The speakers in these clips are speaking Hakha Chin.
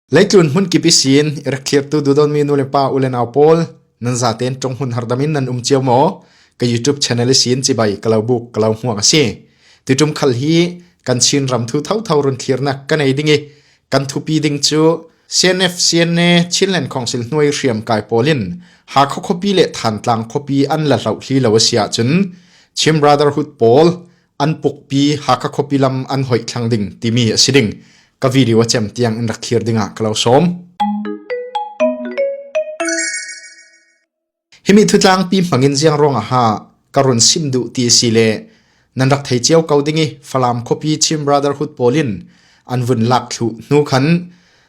Leitlun hmun kip isin irak thlirtu dudonmi nu le pa u le nau pawl nan zaten tong hun hardamin nan um cio maw ka YouTube channel isin chibai kalo buk kalo huang asi titum khal hi kan chin ram thu thau thau run thlirnak kan ei dingi kan thupi ding chu CNF CNA Chinland Council hnuai hriam kai polin ha kho khopi le than tlang khopi an la hlau hli lo asia chun Chim Brotherhood pawl An pukpi Hakha khuapi lam an hoih thlang ding timi a si ding ka video a cem tiang in rak thir dingah ka lo som. Himi thutlang pi mangin ziang ruang a ha ka run sim du ti si le nan rak thei chiao ko ding i Falam khuapi Chin Brotherhood polin an vun lak thlu nu khan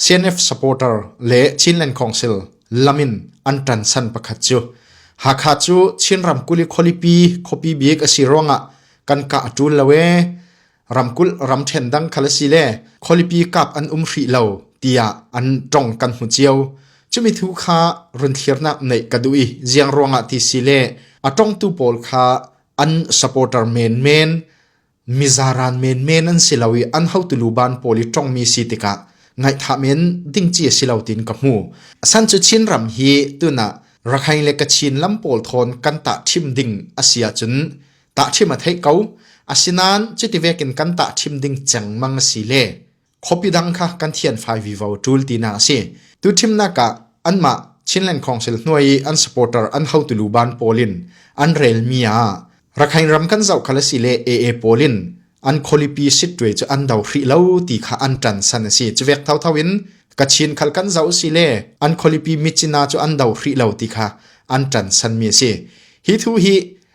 CNF supporter le Chinland Council lam in an ṭansan pakhat cu Hakha cu Chin ramkulh i khualipi khuapi bik a si ruangah kan kah a ṭul lo ee ramkulh ramṭhen dang khal a si le khualipi kap an um hrih lo tiah an ṭong kan hmu cio chumi thu kha run thlirnak neih ka duh i ziang ruangah ti si le a ṭongtu pawl kha an supporter menmen Mizaran menmen an si lo i an hotelu ban pawl i tongmi si tikah ngaihthah men ding ci a si lo tiin ka hmu. San cu Chinram hi tunah Rakhain le Kachin lam pawl thawn kan tah thim ding a si ahcun tah thim a thei ko. Asinain cuti vekin kan tah thim ding cengmang a si le Khuapi dang kha kan thian fai vivo ṭul tinak a si. Tu thimnak ah anmah Chinland Council hnuai i an supporter an hotu luban pawl in an relmi ah Rakhain ram kan zoh khal a si le AA pawl in an kholipi sitwe cu an do hrih lo ti kha an tan san a si. Cuvek thotho in Kachin khal kan zoh si le an kholipi Michina cu an do hrih lo ti kha an tan sanmi a si. Hi thu hi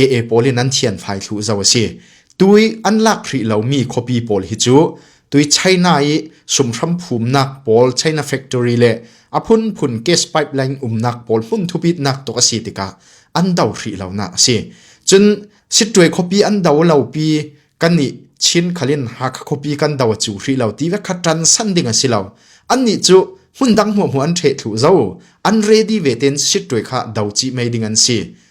AA pawl in an thian fai thlu zo a si. Tui an lak hrih lomi khuapi pawl hi cu tui China i sumhram phumnak pawl China factory le a phunphun gas pipeline umnak pawl hmun thupitnak tuk a si tikah an do hrih lonak a si. Cun sittuai khuapi an do lopi kan i Chin khalin Hakha khuapi kan do a cu hrih lo ti ve kha tan san ding a si lo. An nih cu hmun dang hmuahmu an ṭhe thlu zo an ready ve ten sittuai kha do chi mei ding an si.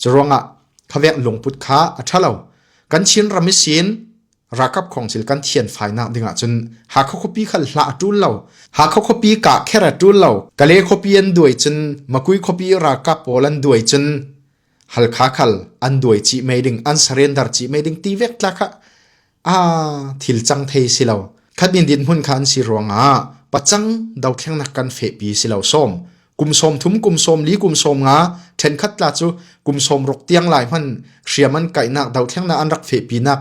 Curuangah khavek lungput kha a ṭhalo. Kan Chin ram i sin rakap khong thil kan thian fai nak ding ahcun Hakha khuapi khal hla a ṭul lo. Hakha khuapi ka kher a ṭul lo. Kale khuapi an duai cun Makui khuapi ralkap pawl an duai cun Halkha khal an duai ci mei ding an sarendar ci mei ding ti vek tla kha Ah, thil cang thei si lo. Khat in dinhmun kha an si ruangah pacang dothlennak kan fehpi si lo som. Kum som thum kum som li kum som nga then khat la chu kum som ruk tiang lai hman hriaman kainak dothlenna an rak fehpi nak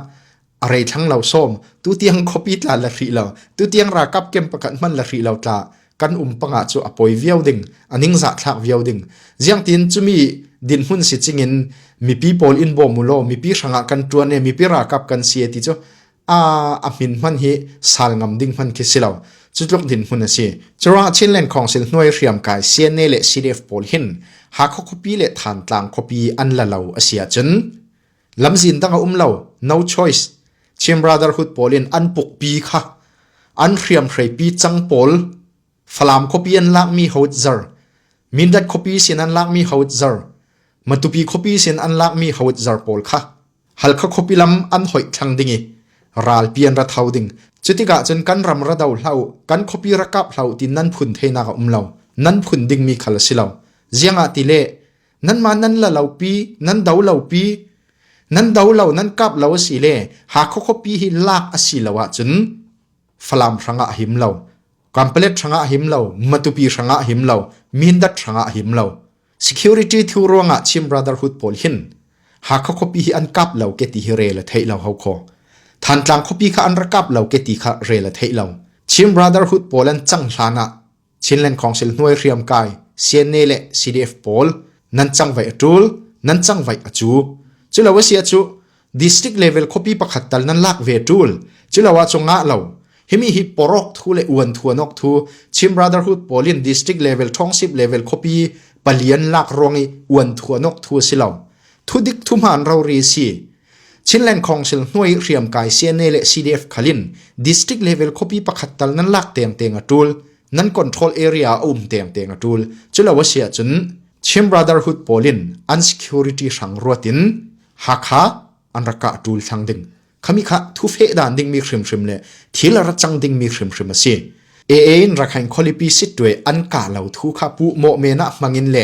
a rei thlang lo som tu tiang khopi tla la hri lo tu tiang ra kap kem pakat man la hri lo tla kan um panga cu a poi viau ding a ningzah thlak viau ding ziang tin chumi dinhmun si chingin mipi pawl in bom ulo mipi hrangah kan tuan e mipi rakap kan si ti chu a a min man hi sal ngam ding man khi silo chu tluk din mun asi chura chinland council hnuai hriam kai CNA le CDF pawl hin ha kho khopi le than tlang khopi an la lo asia chun lamzin dang a um lo no choice Chin Brotherhood pawl in an pukpi kha an hriamhreipi cang pawl Falam khuapi an lakmi hotzer Mindat khuapi sin an lakmi hotzer Matupi khuapi sin an lakmi hotzer pawl kha Halkha khuapi lam an hoih thlang ding i ralpi an ra thau ding cutikah cun kan ram ra do hlau kan khuapi rakap hlau ti nan phun theinak a um lo nan phun dingmi khal a si lo ziangah ti le nanmah nan la lopi nan do lopi nan do lo nan kap lo asi le ha kho khuapi hi lak asi lo ah cun falam hranga him lo kampalet hranga him lo matupi hranga him lo mindat hranga him lo security thu ruanga chim brotherhood pawl hin ha kho khuapi hi an kap lo ke ti hi re la thei lo ho kho than tlang khuapi kha an rakap lo ke ti kha re la thei lo chim brotherhood pawl an chang hlana Chinland Council hnuai hriamkai CNA le CDF pawl nan cangvaih a ṭul, nan cangvaih a cu. Culo a sia cu district level khuapi pakhat tal nan lak ve ṭul. Culo a cungah lo himi hi porok thu le uan thuan ok thu Chin Brotherhood pawl in district level thongsip level khuapi palian lak ruang i uan thuan ok thu a si lo. Thu dik thu hmaan rori si Chinland Council hnuai hriam kai CNA le CDF khalin district level khopi pakhat tal nan lak tem te nga tul nan control area um tem te nga tul chulo asia chun Chim Brotherhood polin unsecurity sang ruatin hakha anraka tul thlang ding khami kha thu fe dan ding mi hrim hrim le thil ra chang ding mi hrim hrim asi a in rakhain kholipi sitwe an ka lo thu kha pu mo me na mangin le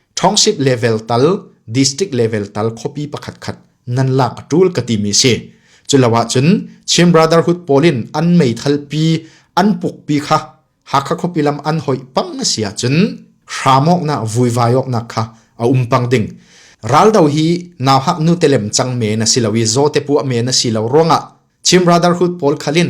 Township level tal, district level tal khuapi pakhat khat nan lak a tul ka timi si. Culo ahcun Chin Brotherhood polin an meithal pi an puk pi kha Hakha khuapi lam an hoi pang si ahcun hramok na vuivai ok na kha a um pang ding. Raldo hi naw hak nu telem chang men a si lo i zote pua men a si lo ruangah Chin Brotherhood pol khalin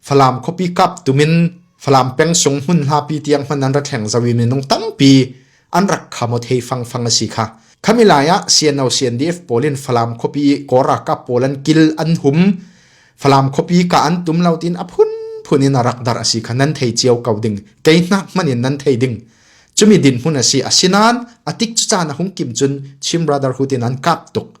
Falam khuapi kap tumin Falam pengsungi hmun hlapi tiang hman an ra thleng zau i minung tampi an rak kham ot hei fang fang a si kha. Khami lai ah CNO CNDF pawl in Falam khuapi Kora kap pawl an kil an hum Falam khuapi ka an tum lo tin a phun phun in a rak dar a si kha nan thei cio ko ding kei hnak man in nan thei ding chumi din hmun a si asinan atik cu caan a hung kim cun Chin Brotherhood in an kap tuk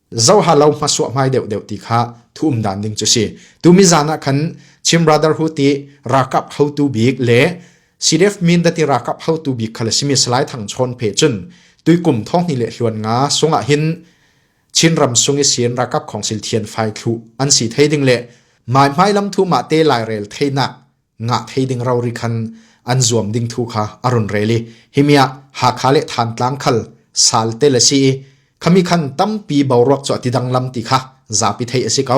zohalo hmasuah hmai deuhdeuh ti kha thuum dan ding cu si. Tumi zan ah khan Chin Brotherhood i rakap hotu bik le CDF min dati rakap hotu bik kha le simi Salai Thang Chawn Phe cun tuikum thong ni le hluan nga sungah hin Chin ram sung i sin rakap khongsil thian fai thlu an si thei ding le mai hmai lam thu ma te lai rel theinak ngah thei ding rori khan an zuam ding thu kha a run rel i himi ah Hakha le Thantlang khal salte le si i khami khan tampi boruak chu ati dang lam ti kha zapi thei asi ko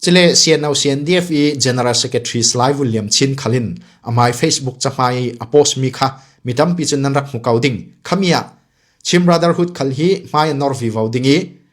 chile CNO CNDF i General Secretary Slai William Chin khalin amai Facebook chahmai a post mi kha mi tampi chu nan rak hmu ko ding khamia Chim Brotherhood khal hi hmai nor vi vo ding i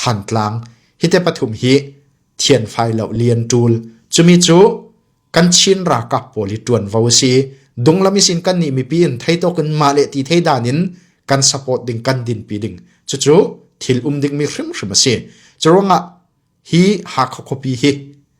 Thantlang hite pathum hi thian fai lo lian ṭul cumi cu kan Chin ralkap pawl hi ṭuanvo a si dunglam isin kan nih mipi in thei tok in mah le ti thei dan in kan support ding kan dinpi ding cucu thil um dingmi hrimhrim a si cu ruangah hi hakha khuapi hi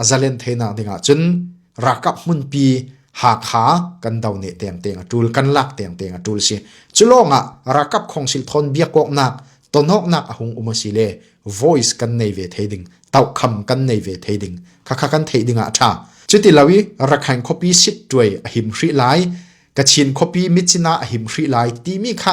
a zalen thenak ding ah cun rakap hmunpi Hakha kan do ne tem te nga tul kan lak tem te nga tul si chulong ah rakap khongsil thon biak kok nak tonok nak a hung uma si le voice kan nei ve thei ding tau kham kan nei ve thei ding kha kha kan thei ding a tha chuti lawi rakhain khopi sit tuai a him hri lai ka chin khopi michina a him hri lai ti mi kha